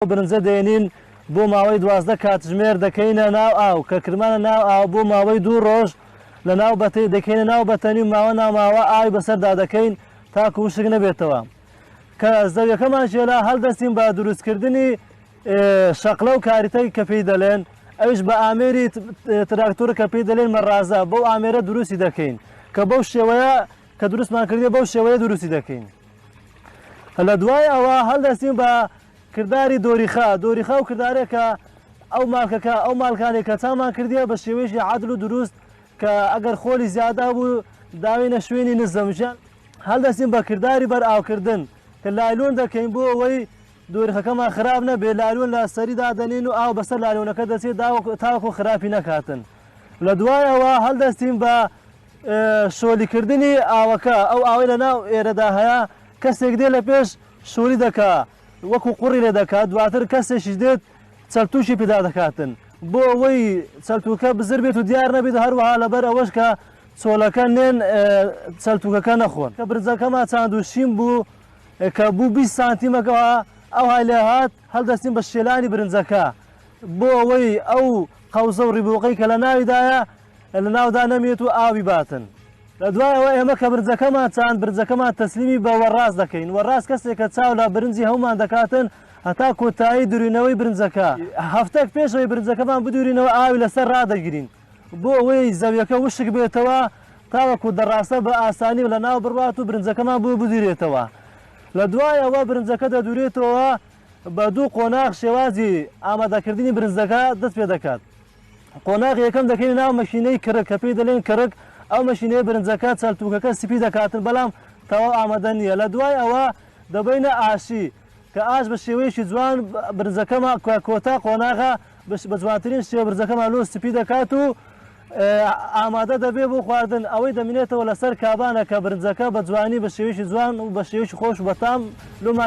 ئەو برنجە دەینین بۆ ماوەی دوازدە کاتژمێر دەکەینە ناو ئاو کە کردمانە ناو ئاو بۆ ماوەی دوو ڕۆژ لە ناو بەتەی دەکەینە ناو بەتەنی و ماوە ناماوە ئاوی بەسەردا دەکەین تاکو وشک نەبێتەوە کە زەویەکەمان شێلا هەلدەستین بە دروستکردنی شەقلە و کاریتەی کە پێی دەلێن ئەوش بە ئامێری تراکتۆر کە پێی دەلێن مەڕازە بەو ئامێرە دروستی دەکەین کە بەو شێوەیە کە دروستمان کردیە بەو شێوەیە دروستی دەکەین لە دوای ئەوە هەڵدەستین بە کرداری دۆریخا دۆریخا و کردارێکە ئەو مالکەکە ئەو مالکانی کە چامان کردیە بە شێوەیەکی عادل و دروست کە ئەگەر خۆلی زیادا بوو داوینە شوێنی نزەمژە هەڵدەستین بە کرداری بەر ئاوکردن کە لایلۆن دەکەین بۆ ئەوەی دۆریخەکەمان خراپ نەبێ لالوون لە سەری دادەنین و ئاو بەسەر لالوونەکە دەچێت تاوەکو خراپی نەکاتن لە دوایەوە هەڵدەستین بە شۆلی کردنی ئاوەکە ئەو ئاوەی لە ناو ئێرەدا هەیە کەسێک دێ لە پێش شۆلی دەکا وەکو قوڕی لێ دەکات دواتر کەسێکیش دێت چەلتوشی پێدا دەکاتن بۆ ئەوەی چەلتوکە بزر بێت و دیار نەبێت هەروەها لەبەر ئەوەش کە چۆلەکە نێن چەلتوکەکە نەخۆن کە برزەکەمان چاند و شین بوو کە بوو 20 سانتیمەکەەوە ئەو های لێ هاات هەڵدەستین بە شێلانی برنجەکە بۆ ئەوەی ئەو قەوزە و ڕیبووقەی کە لە ناویدایە لە ناودا نەمێت و ئاوی باتن. لە دوای ئەوە ئێمە کە برنجەکەمان چاند، برنجەکەمان تەسلیمی بە وەڕاز دەکەین. وەڕاز کەسێکە چاو لە برنجی هەومان دەکاتن هەتا کۆتایی دورینەوەی برنجەکە. هەفتەک پێش ئەوەی برنجەکەمان بدورینەوە ئاوی لەسەر ڕادەگرین بۆ ئەوەی زەویەکە وشک بێتەوە تاوەکو دەڕاسە بە ئاسانی لە ناو بڕوات و برنجەکەمان بۆ بدورێتەوە. لە دوای ئەوە برنجەکە دەدورێتەوە بە دوو قۆناغ شێوازی ئامادەکردنی برنجەکە دەست پێ دەکات. قۆناغی یەکەم دەکەینە ناو مەشینەی کرک کە پێی دەلێن کرک ئەو مەشینەیە برنجەکە چەلتوکەکە سپی دەکاتن بەلام تەواو ئامەدە نیە لە دوای ئەوە دەبەینە ئاشی کە ئاش بە شێوەیەکی جوان برنجەکەمان کە کۆتا قۆناغە بە جوانترین شێوە برنجەکەمان لۆ سپی دەکات و ئامادە دەبێ بۆ خواردن ئەوەی دەمینێتەوە لەسەر کابانە کە برنجەکە بە جوانی بە شێوەیەکی جوان و بە شێوەیەکی خۆش و بەتام لۆمان